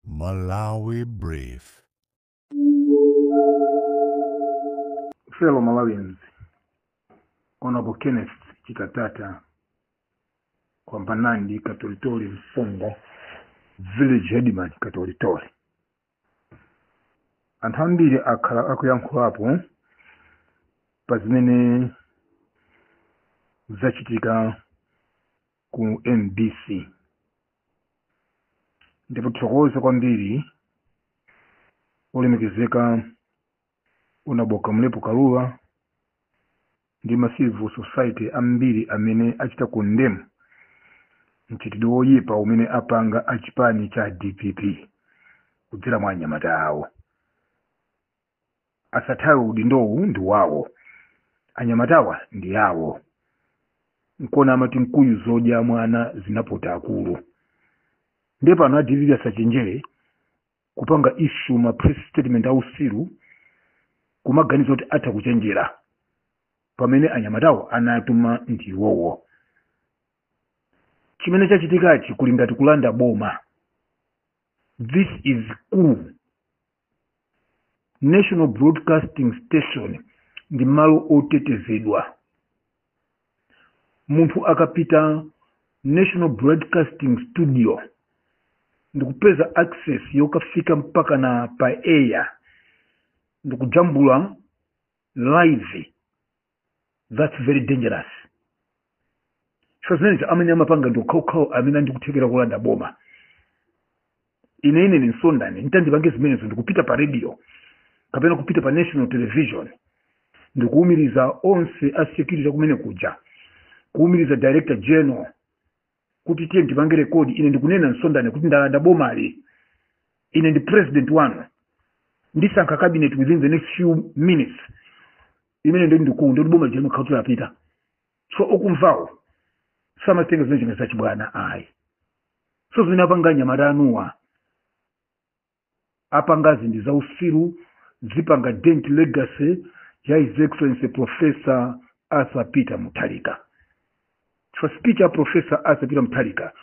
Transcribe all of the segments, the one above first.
Malawi Brief. Fellow Malawians, Honorable Kenneth Chikatata, Kwambanandi Katolitori Msonda, Village Headman Katolitori. Anthu ambiri akhala akuyankhulapo pa zimene zachitika ku MBC. ndikuthokoza kwambiri olemekezeka honourable kamlepo kalua ndi ma civil society ambiri amene achita condemn mchitidwe woyipa umene apanga achipani cha dpp kudzera mwa anyamata awo asathawe udindowu ndi wawo anyamatawa ndi awo nkuona amati nkhuyu zodya mwana zinapota akulu ndiye pano a dpp asachenjere kupanga issue ma press statement ausiru kumaganiza kuti atha kuchenjera pamene anyamatawa anatuma ndi iwowo chimene chachitikachi kuli ngati kulanda boma this is coup national broadcasting station ndi malo otetezedwa munthu akapita national broadcasting studio ndikupeza access yokafika mpaka na pa air ndikujambula live that's very dangerous coz zimene zija amene amapanga ndi okhaokhawo amene ali ndi kuthekera kulanda boma ine ine ine msonda nditati ndipange zimenezo ndikupita pa radio kapena kupita pa national television ndikuwumiriza onse a security kumene kuja kuwumiriza director general kuti tiye ndipange record ine ndikunena msonda ine kuti ndalanda bomali ine ndi president wanu ndisankha cabinet within the next few minutes imene ija ndiye kuti boma lija limakhala kuti lapita so okumvawo samatenga zimene zija ngati zachibwana ayi so zimene apanga anyamata anuwo apanga zinthu za usiru zipanga dent legacy ya his excellency professor arthur peter mutharika so speech ya professor arthur peter mutharika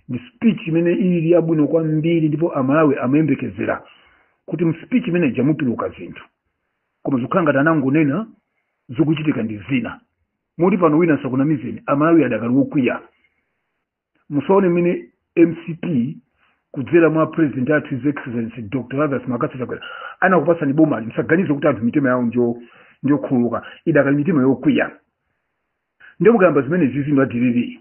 ndi speech imene ili yabwino kwambiri ndipo amalawi amayembekezera kuti mu speech imene ija mutuluka zinthu koma zikukhala ngati anangonena zikuchitika ndi zina moti pano wina asakunamizeni amalawi adakali wokwiya musaone mmene mcp kudzera mwa president athu his excellency dr lazarus mccarthy chakwera anakupatsani boma ili musaganize kuti anthu mitima yawo njokhululuka idakali mitima yokwiya ndiye mukayamba zimene izizi inu a dpp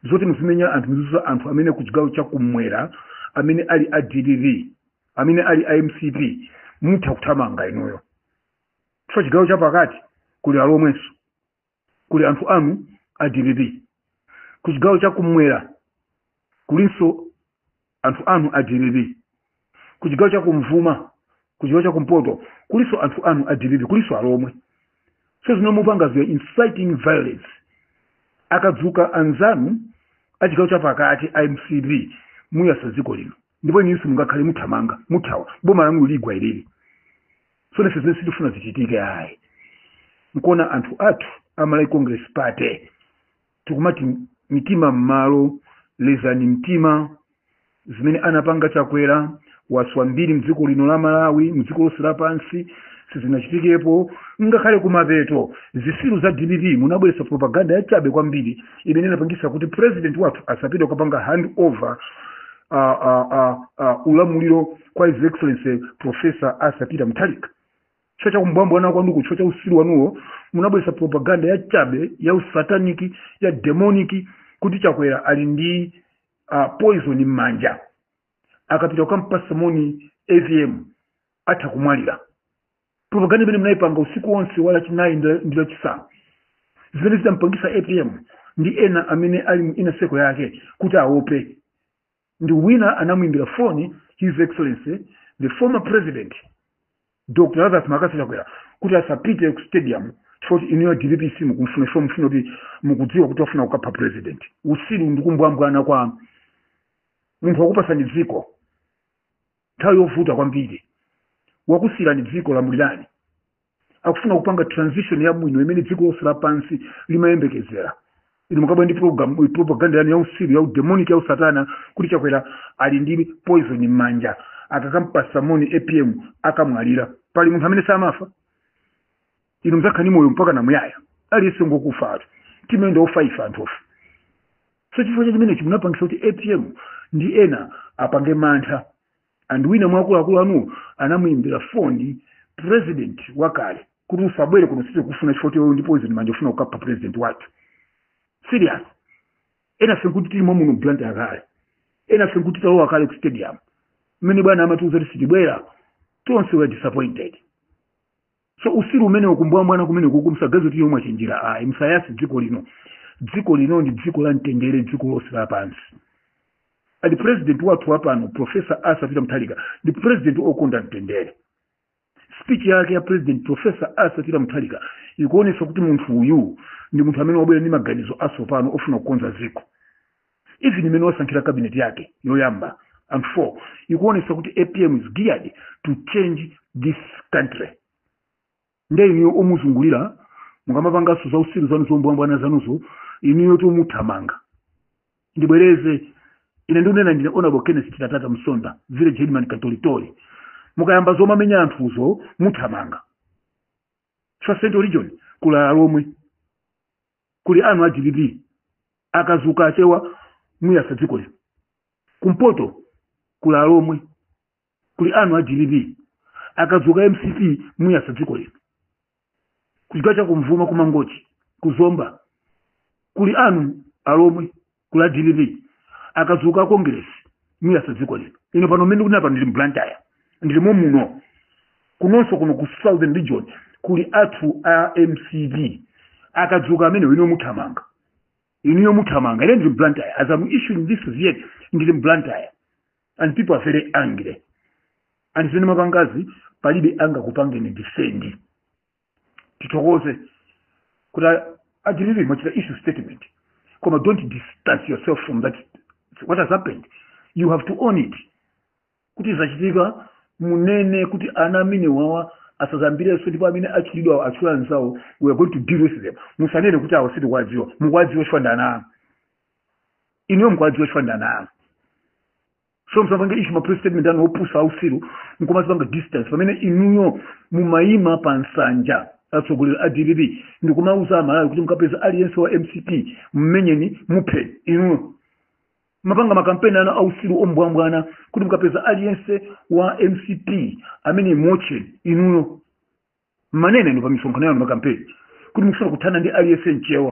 zoti muzimenya anthu muzizunza anthu amene ku chigawo cha kumwera amene ali a dpp amene ali a mcp mutha kuthamanga inuyo chifukwa chigawo cha pakati kuli alomwenso kuli anthu anu a dpp ku chigawo cha kumwera kulinso anthu anu a dpp ku chigawo cha kum'vuma ku chigawo cha kumpoto kulinso anthu anu a dpp kulinso alomwe so zimene mukupangaziwa inciting violence akadzuka anzanu a chigawo cha pakati a mcp muyasa dziko lino ndipo inunso mungakhale muthamanga muthawa boma lanu ligwa ilili tsono ife zimene sitifuna zichitike ayi nkuona anthu athu a malawi congress party tikumati mitima m'malo lezani mtima zimene anapanga chakwera waswa mbiri mdziko lino la malawi mdziko lonse lapansi sizinachitikepo ngakhale kumapeto zisiru za dpp munabweretsa propaganda yachabe kwambiri imene inapangisa kuti president wathu asapite kukapanga hand over uh, uh, uh, uh, ulamuliro kwa his excellency professor arthur peter mutharika chifukwa cha kumbwambwana kwanuko chifukwa cha usiru wanuwo munabweretsa propaganda yachabe ya usataniki ya demonic kuti chakwera ali ndi uh, poison m'manja akapita kukampasa moni apm atha kumwalira propaganda imene munayipanga usiku wonse wa lachinayi ndi- ndi lachisanu zimene zidampangisa apm ndi ena amene ali mu inner circle yake kuti aope ndi wina anamuimbira foni his excellency the former president dr lazarus mccarthy chakwera kuti asapite ku stadium chifukwa kuti inuyo dpp simukumfuna chifukwa mufuna kuti mukudziwa kuti wafuna kukapha president usiru ndi kumbwambwana kwa munthu wakupasani dziko nthawi yovuta kwambiri wakusiyirani dziko lamulirani akufuna kupanga transition yabwino imene dziko lonse lapansi limayembekezera inu mukubwera ndi propaganda yanu yausiru yaudemonic yausatana kuti chakwera ali ndi poison m'manja akakampasa moni apm akamwalira pali munthu amene samafa inu mzakhala ndi moyo mpaka namuyaya aliyense ngokufa atu timayenda ofaifa anthufe so chifukwa cha chimenechi munapangisa kuti apm ndi ena apange mantha and wina mwa akuluakulu anuwo anamuimbira foni president wakale kuti usabwere kuno sitikukufuna chifukwa choti uli ndi poison m'manja ufuna kukapha president wathu serious enafe nkuti tili momuno mu blantyre kale enafe nkuti talowa kale ku stadium mmene bwana amatiuza kuti sitibwera tonse we were disappointed so usiru umenewu kumbwambwana kumeneku musaganize kuti inuyo mwachenjera ayi musayatse dziko lino dziko lino ndi dziko la mtendere dziko lonse lapansi ati president wathu wapano profesa arthur peter mutharika ndi president okonda mtendere speech yake ya president profesa arthur peter mutharika ikuonesa kuti munthu uyu ndi munthu amene wabwera ndi maganizo atsopano ofuna kukonza dziko even mmene wasankhira cabinet yake yoyamba half ikuonesa kuti apm is geared to change this country nde inuyo omuzungulira mukamapanganso za usiru zanu zombwambwana zanuzo inuyo tu muthamanga ndibwereze ine ndikunena ndine honorable kenneth chitatata msonda village headman katolitori mukayamba zomamenya anthuzo muthamanga chifukwa central region kuli alomwe kuli anthu a dpp akadzuka achewa muyatsa dziko lino kumpoto kuli alomwe kuli anthu a dpp akadzuka mcp muyatsa dziko lino kuchigawo cha kummvuma kumangochi kuzomba kuli anthu alomwe kuli a dpp akadzuka a kongiresi muyatsa dziko lino ine pano mmene ndikunena pano ndili mblantyre ndilimo muno kunonso kuno ku southern region kuli anthu a mcp akadzuka amenewo inuyo muthamanga inuyo muthamanga ine ndili mblantyre as am issuing this vn ndili mblantyre and people are very angry and zimene mwapangazi palibe angakupangeni defend tithokoze kuti a dpp mwachita issue statement koma don't distance yourself from that what has happened you have to own it kuti zachitika munene kuti ana amenewa awa asadzayambirenso ndipo amene atchulidwawo atchula anzawo we are going to deal with them musanene kuti awo sitikuwadziwa mukuwadziwa chifukwa ndi ana anu inuyo mukuwadziwa chifukwa ndi ana anu so musapange issue ma press statement anu opusa ausiru nkumazipanga distance pamene inuyo mumayima pa nsanja atsogoleri a dpp ndikumauza amalawi kuti mukapeza aliyense wa mcp mmenyeni muphe inuyo mumapanga makampeni anu ausiru ombwambwana kuti mukapeza aliyense wa mcp mmenyeni muotcheni inuyo mumanena inu pa misonkhano yanu makampeni kuti mukufuna kuthana ndi aliyense mchewa